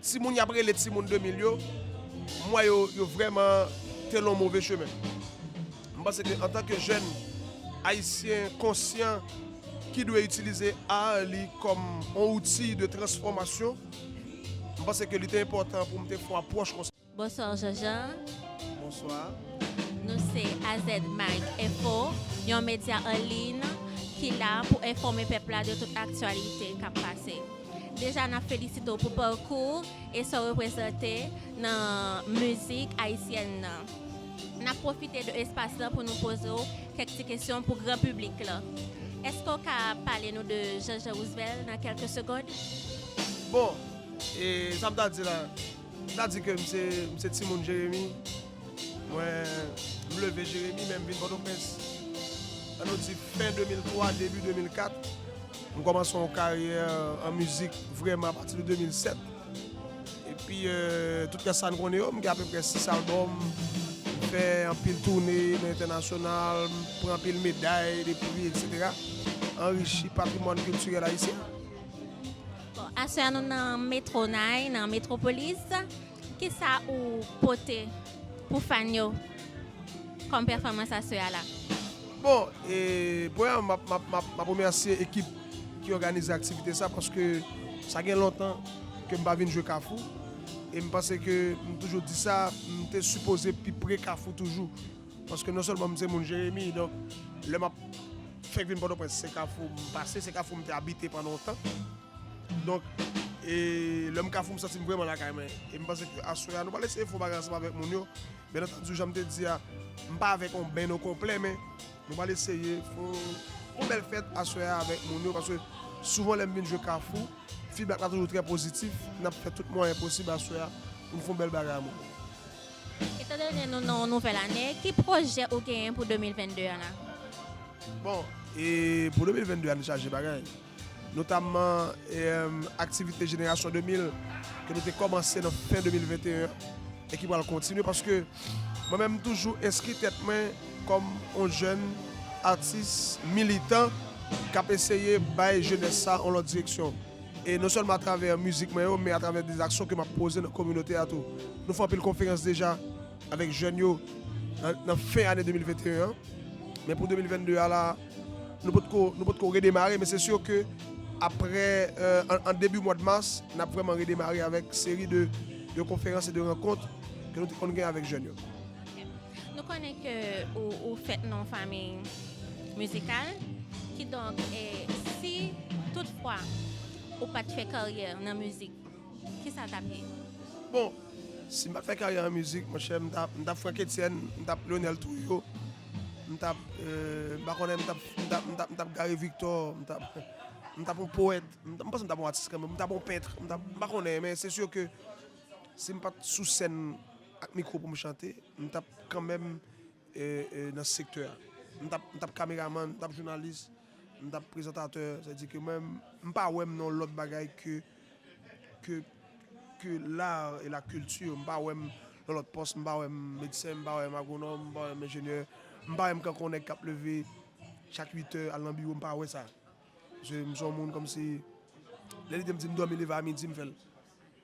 Timoun yap rele timoun 2000 yo, m wè yo, yo vrèman te lon move chemen. M panse ke antan ke jèn ayisyen konsyan ki dwe itilize ar li kòm on outi de transfòmasyon, m panse ke li te enpòtan pou m te fon apwòch konsa. Bonsoir Jean Jean. Bonsoir. Nou se AZmag Enfo, yon medya an liyn ki la pou enfòme pèp la de tout aktyalite k ap pase. Deja n ap felisite w pou pakou w e sa w reprezante nan mizik ayisyèn nan. N ap pwofite de espas lan pou nou poze w kèk ti kesyon pou gran piblik lan. Èske w ka pale nou de Jean Jean Roosevelt nan kèlke segond? Bon, sa m ta di la. M ta di ke m se timoun Jeremi, mwen m leve Jeremi men m vin Pòtoprens an nou di fen 2003 debi 2004. M kòmanse yon karyè an mizik vrèman apati de 2007 epi tout rès sa n konnen yo. M gen apeprè 6 albòm, m fè anpil toune nan entènasyonal, m pran anpil meday, de pri, eksetera. Anrichi patrimwàn kiltirèl ayisyen. Aswè a nou nan Metro Nay, nan Metropolis. Kisa ou pote pou fan yo kòm pèfòmans aswè a la? Bon, premyèman m ap remèsye ekip ki òganize aktivite sa paske sa gen lontan ke m pa vin jwe Kafou e m panse ke m toujou di sa, m te sipoze pi pre Kafou toujou. Paske non sèlman m se moun Jeremi, donk lè m ap fèk vin Pòtoprens se Kafou m pase, se Kafou m te abite pandan yon tan. Donk e lè m Kafou m santi m vrèman lakay mwen. E m panse ke aswè a nou pral eseye fè yon bagay ansanm avèk moun yo. Byen antandi jan m te di a, m pa avèk yon benn okonplè men nou pral eseye fè yon bèl fèt aswè a avèk moun yo paske souvan lè m vin jwe Kafou, fidbak la toujou trè pozitif. N ap fè tout mwayen posib aswè a pou n fè yon bèl bagay a moun yo. Etandone nou nan yon nouvèl ane, ki pwojè ou genyen pou 2022 an la? Bon, e pou 2022 an nou chaje bagay. Notamman aktivite Jenerasyon 2000 ke nou te kòmanse nan fen 2021 an e ki pral kontinye paske mwen menm m toujou enskri tèt mwen kòm yon jèn atis militan k ap eseye bay jenès sa yon lòt direksyon. e non sèlman atravè mizik mwen yo men atravè de aksyon ke m ap poze nan kominote a tou. Nou fè anpil konferans deja avèk jèn yo nan fen ane 2021 an, men pou 2022 a la a nou potko nou potko redemare men se sur ke aprè an debi mwad mas n ap vrèman redemare avèk seri de konferans e de rankont ke nou te konn gen avèk jèn yo. Nou konnen ke ou fèt nan yon fanmi mizikal, kidonk si tout fwa ou pat fè karyè nan mizik, kisa tap ye? Bon, si m pat fè karyè nan mizik, monchè m tap Franck Etienne, m tap Lionel Trouillot, m tap, m pa konnen, m tap Gary Victor, m tap yon powèt, m pa panse m tap yon atis kanmèm, m tap yon pèntre, m pa konnen, men se sur ke si m pat sou sèn. Ak mikro pou m chante, m t ap kanmenm nan sektè a. M t ap kameramann, m t ap jounalis, m t ap prezantatè. Sa vle di ke mwen, m pa wè m nan yon lòt bagay ke l'art et la culture. M pa wè m nan lòt pòs, m pa wè m medsen, m pa wè m agwonòm, m pa wè m enjenyè, m pa wè m kanko nèg k ap leve chak uitè al nan biwo, m pa wè sa. Paske m se yon moun kòmsi, lè li di m di m dòmi leve a midi m fè l.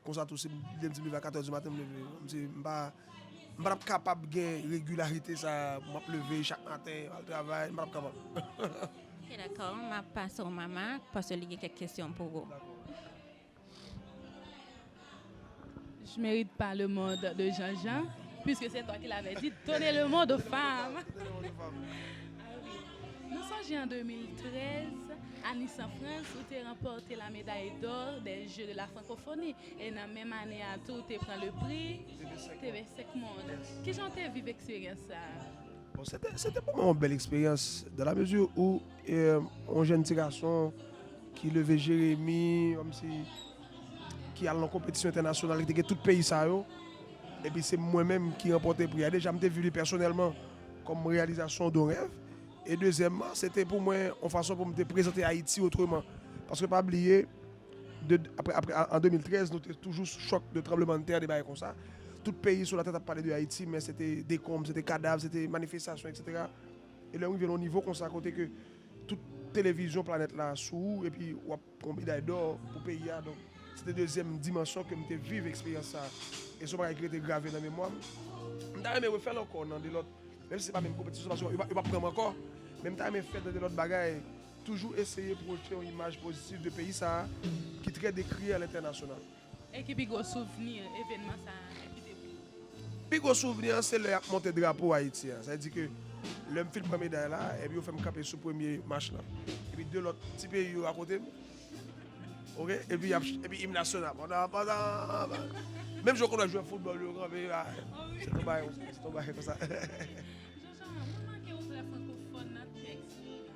Konsa tou si m lè m di m leve a 4 è di maten m leve. M di m pa m pa tap kapab gen regilarite sa m ap leve chak maten al travay m pa tap kapab. Ok dakò m ap pase w Mama paske li gen kèk kesyon pou ou. Dakò. Je mérite pas le monde de Jean Jean puisque c'est toi qui l'avais dit donner le monde aux femmes. Nou sonje an 2013, a Nice an Frans, ou te ranpòte la meday dò dè Jeux de la Francophonie, e nan menm ane a tou ou te pran le pri TV 5 Monde. Kijan ou te viv eksperyans sa a? Bon, se te, se te pou mwen yon bèl eksperyans, dan la mezi ou yon jenn ti gason ki leve Jeremi, kòmsi, ki al nan konpetisyon entènasyonal, ki te gen tout peyi sa yo, epi se mwen menm ki ranpòte pri a. Deja m te viv li pèsonèlman. Kòm reyalizasyon de rèv. E dezyèmman, se te pou mwen yon fason pou m te prezante Ayiti otreman. Paske pa bliye, de, apre, apre, an, an 2013, nou te toujou sou chòk de tranblemanntè, de bagay konsa. Tout peyi sou latè t ap pale de Ayiti, men se te dekonb, se te kadav, se te manifestasyon, eksetera. E lè ou rive nan yon nivo konsa kote ke tout televizyon planèt la sou ou epi w ap. Yon meday dò pou peyi a. Donk, se te dezyèm dimansyon ke m te viv eksperyans sa a. E se yon bagay ki rete grave nan memwa m. M ta renmen refè l ankò nan de lòt, menm si se pa menm konpetisyon paske yo pa pran m ankò. Men m ta renmen fè nan de lòt bagay, toujou eseye pwojte yon imaj pozitif de peyi sa a ki trè dekriye a lentènasyonal. E ki pi gwo souvni evenman sa a kite pou ou? Pi gwo souvni an se lè y ap monte drapo Ayiti an. Sa vle di ke lè m fin pran meday la, epi yo fè m kanpe sou premye mach lan, epi 2 lòt ti peyi yo akote m, ok, epi y ap, epi im nasyonal ap, Pandan, pandan, pandan, menm jan w konn wè jwè foutbòl yo kanpe, a, se ton bagay konsa, se ton bagay konsa. Jean Charles, mwen remake ou trè frankofòn nan tèks ou.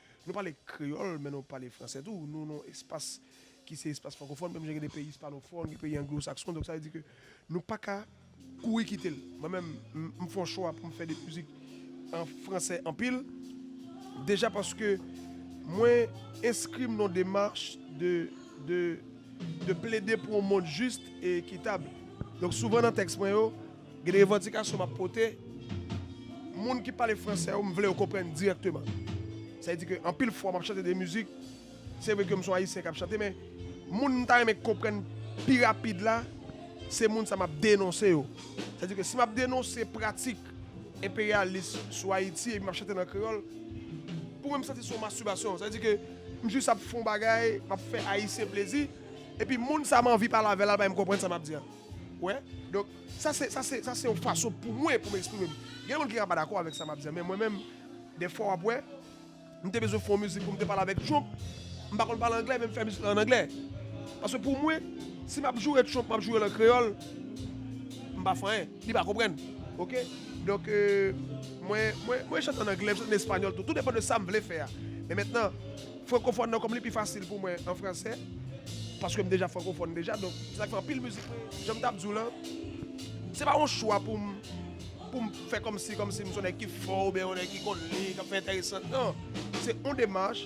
Nou pale kreyòl, men nou pale franse tou. Nou nan yon espas ki se espas frankofòn, menm jan gen de peyi ispanofòn, gen peyi anglosakson. Donk sa vle di ke nou pa ka kouri kite l. Mwen menm, m fè yon chwa pou m fè de mizik an franse anpil. Deja paske mwen enskri m nan yon demach de plede pou yon mond jis e ekitab. Donk souvan nan tèks mwen yo. Gen de revandikasyon m ap pote, moun ki pale fransè yo m vle yo konprann dirèkteman. Sa vle di ke anpil fwa m ap chante de mizik, se vre ke m se yon Ayisyen k ap chante men moun m ta renmen k konprann pi rapid la se moun sa m ap denonse yo. Sa vle di ke si m ap denonse pratik enperyalis sou Ayiti epi m ap chante l an kreyòl, pou mwen m santi se yon mastibasyon. Sa vle di ke m jis ap fè yon bagay, m ap fè Ayisyen plezi epi moun sa m anvi pale avè l la bay m konprann sa m ap di a. Ou wè? Donk, sa se, sa se, sa se yon fason pou mwen pou m eksprime m. Gen moun ki ka pa dakò avèk sa m ap di an, men mwen menm, dèfwa w ap wè, m te bezwen fè yon mizik pou m te pale avèk Trump, m pa konn pale anglè, men m fè mizik lan an anglè. Paske pou mwen, si m ap joure Trump, m ap joure l an kreyòl, m pa fè anyen. Li pa konprann. Ok? Donk, mwen, mwen, mwen chante an anglè, m chante an espanyòl tou. Tou depan de sa m vle fè a. Men mentnan. Frankofòn nan kòm li pi fasil pou mwen an fransè paske m deja frankofòn deja donk se sa k fè anpil mizik mwen jan m t ap di w lan se pa yon chwa pou m pou m fè kòmsi kòmsi m s on nèg ki fò oubyen yon nèg ki konn li k ap fè entèresan nan se yon demach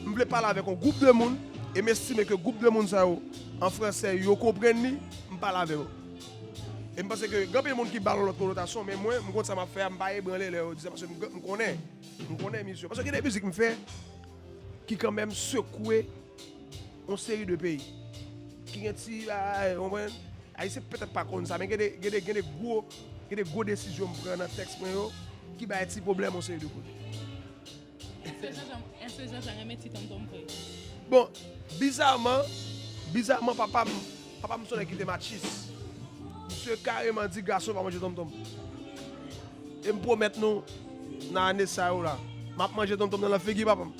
m vle pale avèk yon gwoup de moun e m estime ke gwoup de moun sa yo an fransè yo konprann li m pale avè yo e m panse ke gen anpil moun ki ba l yon lòt konotasyon men mwen m konn sa m ap fè a m pa ebranle lè yo di sa paske m konnen. M konnen misye. Paske gen de mizik m fè ki kanmenm sekwe yon seri de peyi. Ki gen ti bagay, ou konprann? Ayisyen petèt pa konn sa, men gen de, gen de, gen de gwo, gen de gwo desizyon m pran nan tèks mwen yo ki bay ti pwoblèm yon seri de kote. Èske Jean-Jean, èske Jean-Jean renmen ti tonton m vre? Bon, bizaman, bizaman papa m. Papa m son nèg ki te matchis. Misye kareman di gason pa manje tonmtonm. E m pwomèt nou nan ane sa yo la, m ap manje tonmtonm nan lan figi papa m.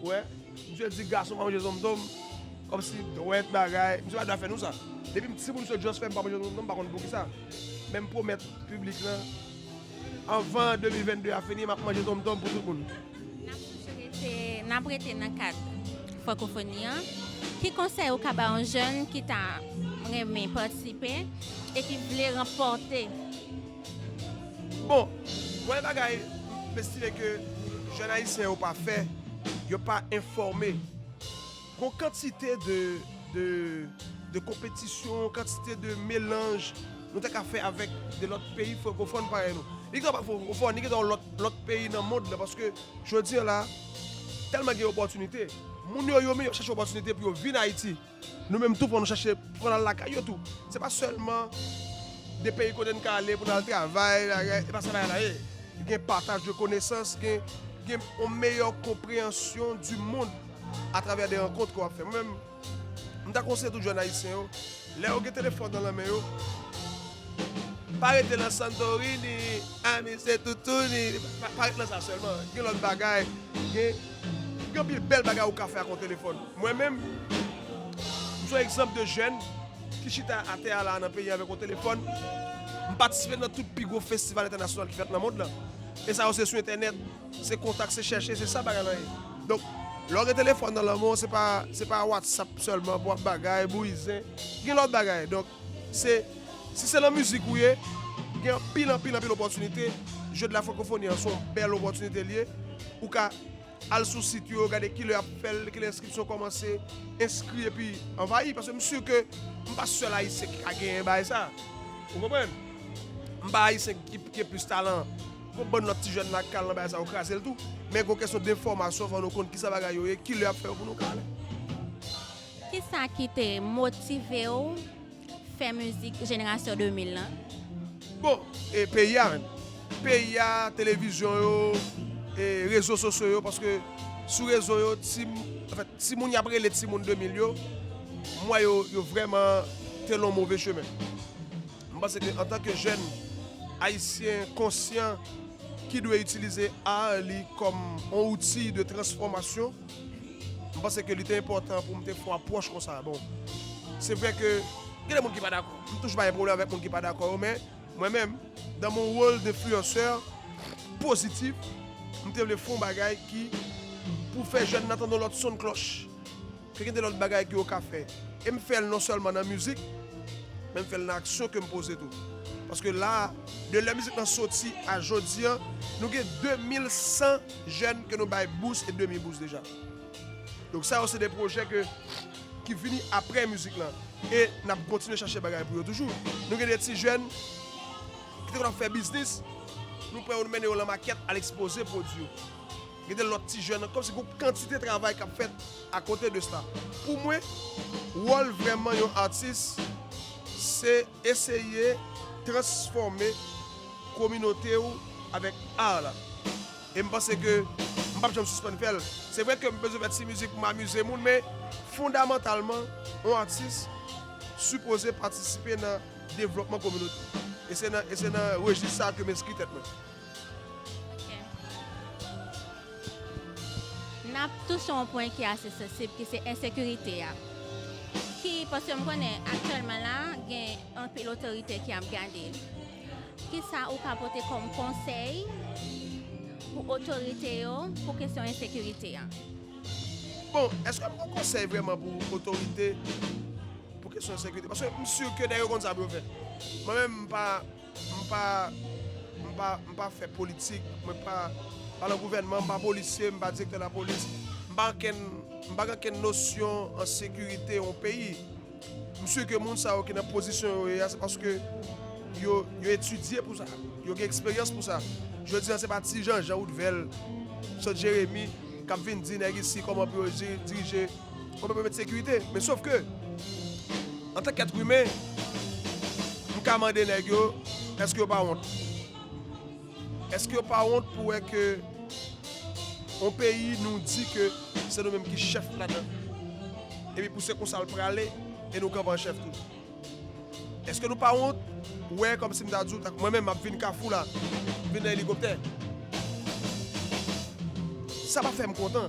Ou wè, misye di gason pa manje tonmtonm, kòmsi dwèt bagay. Misye pa dwe ap fè nou sa. Depi m timoun misye just fè m pa manje tonmtonm m pa konn poukisa. Men m pwomèt piblik lan. Anvan 2022 a fini map manje tom tom pou tout moun. Nap toujou rete nap rete nan kad Frankofoni an. Ki konsèy ou ka ba yon jèn ki ta renmen patisipe e ki vle ranpòte? Bon, premye bagay m estime ke jèn ayisyen yo pa fè, yo pa enfòme Gon kantite de de de konpetisyon, kantite de melanj nou ta ka fè avèk de lòt peyi frankofòn parèy nou. Li ka pa frankofòn, li gen ta yon lòt lòt peyi nan mond lan paske jodi an la tèlman gen opòtinite. Moun yo yo menm y ap chache opòtinite pou yo vin Ayiti. Nou menm tou fò nou chache pou nou al lakay yo tou. Se pa sèlman de peyi kote n ka ale pou n al travay, e pa sa bagay la ye. Gen pataj de konesans, gen gen yon meyè konpreyansyon di mond. Atravè de rankont ke w ap fè. Mwen menm, m ta konseye tout jèn ayisyen yo, lè yo gen telefòn nan lanmen yo, pa rete lan Santorini, a mi se toutouni, pa rete lan sa sèlman, gen lòt bagay, gen, gen anpil bèl bagay ou ka fè ak yon telefòn. Mwen menm, m son egzanp de jèn ki chita atè a la a nan peyi an avèk yon telefòn, m patisipe nan tout pi gwo festival entènasyonal ki fèt nan mond lan, e sa yo se sou entènèt. Se kontak se chèche se sa bagay lan ye donk lè w gen telefòn nan lanmen w se pa se pa watsap sèlman pou wap bagay bouyizen gen lòt bagay donk se si se lan mizik ou ye gen anpil anpil anpil opòtinite jeu de la francophonie an se yon bèl opòtinite li ye ou ka al sou sit yo gade kilè yap fè l kilè enskripsyon kòmanse enskri epi anvayi paske m si ke m pa sèl ayisyen ki ka genyen bagay sa ou konprann m pa ayisyen ki gen plis talan. Gon bann lòt ti jèn la k ka al nan bagay sa yo kraze l tou. Men gon kesyon denfòmasyon fò nou konn kisa bagay yo ye, kilè y ap fè yo pou nou ka ale. Kisa ki te motive w fè mizik jenerasyon 2000 lan? Bon, e peyi a menm? Peyi a, televizyon yo, e rezo sosyo yo paske sou rezo yo ti anfèt timoun y ap rele timoun 2000 yo m wè yo yo vrèman te lon move chemen. M panse ke antan ke jèn ayisyen konsyan ki dwe itilize art li kòm yon outil de transfòmasyon, m panse ke li te enpòtan pou m te fon apwòch konsa. Bon, se vre ke gen de moun ki pa dakò, m toujou pa gen pwoblèm avèk moun ki pa dakò yo, men mwen menm, dan mon rôle d'influenceur positif, m te vle fon bagay ki pou fè jèn nan tande yon lòt son de cloche. Si gen de lòt bagay ke yo ka fè, e m fè l non sèlman nan mizik, men m fè l nan aksyon ke m poze tou. Paske la a, de lè mizik lan soti a jodi an, nou gen 2100 jèn ke nou bay bous e demi bous deja. Donk sa yo se de pwojè ke ki vini aprè mizik lan. E n ap kontinye chache bagay pou yo toujou. Nou gen de ti jèn ki te konn ap fè biznis, nou pran yo nou mennen yo lan makèt al ekspoze pwodui yo. Gen de lòt ti jèn ankò, se gon kantite travay kap fèt a kote de sa. Pou mwen, wòl vrèman yon atis se eseye transfòme kominote ou avèk art la. E m panse ke m pap janm sispann fè l. Se vre ke m bezwen fè ti mizik pou m amize moun men fondamantalman yon atis sipoze patisipe nan devlòpman kominote l. E se nan rejis sa ke m enskri tèt mwen. N ap touche yon pwen ki ase sansib ki se ensekirite a. Ki, paske m konnen aktyèlman la gen anpil otorite ki ap gade. Ki sa ou ka pote kòm konsèy pou otorite yo pou kesyon ensekirite a? Bon, eske m gen yon konsèy vrèman pou otorite pou kesyon ensekirite? Paske m si ke nèg yo konn sa pou yo fè. Mwen menm m pa. M pa m pa m pa fè politik, mwen pa pa lan gouvènman, m pa polisye, m pa direktè lapolis, m pa ankenn m pa gen ankenn nosyon an sekirite yon peyi. M si ke moun sa yo ki nan pozisyon yo ye a se paske yo yo etidye pou sa, yo gen eksperyans pou sa. Jodi a se pa ti Janjan, Woudvèl, Sot Jeremi k ap vin di nèg isi kòman pou yo jiri dirije Mwen pa pèmèt sekirite, men sof ke, antan k èt imen, m ka mande nèg yo, èske yo pa wont? Èske yo pa wont pou wè ke yon peyi nou di ke se nou menm ki chèf ladan l, epi pou se konsa l prale e nou kanpe an chèf tou? Èske nou pa wont wè kòm si m ta di w, tank mwen menm m ap vin Kafou la, m vin nan elikoptè? Sa pa fè m kontan.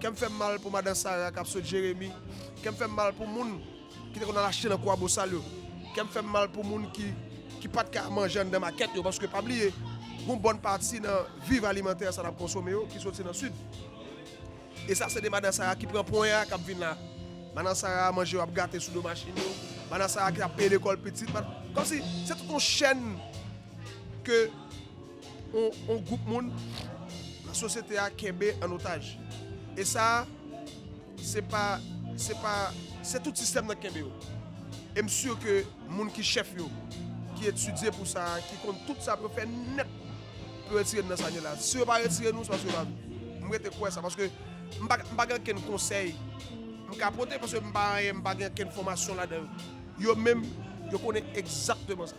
Kèm fèm mal pou madan Sara kap sot jeremi, kèm fèm mal pou moun ki te konn al achte nan kwabosal yo, kèm fèm mal pou moun ki ki pat ka manje anndan makèt yo paske pa bliye gon bòn pati nan viv alimantè sa nap konsome yo ki soti nan sid e sa se de madan Sara ki pran pwen a kap vin la manan Sara manje yo ap gate sou do machin yo madan Sara ki tap peye lekòl pitit kòmsi se tout yon chèn ke. yon gwoup moun nan sosyete a kenbe an otaj. E sa a, se pa, se pa, se tout sistèm nan ki kenbe yo. E m sur ke moun ki chèf yo, ki etidye pou sa a, ki konn tout sa pou yo fè nèt pou yo retire n nan sa n ye la. Si yo pa retire nou, se paske yo pa vle. M rete kwè sa, paske m pa, m pa gen okenn konsèy m ka pote, paske m pa anyen, m pa gen okenn fòmasyon ladan yo. Yo menm, yo konnen egzakteman sa.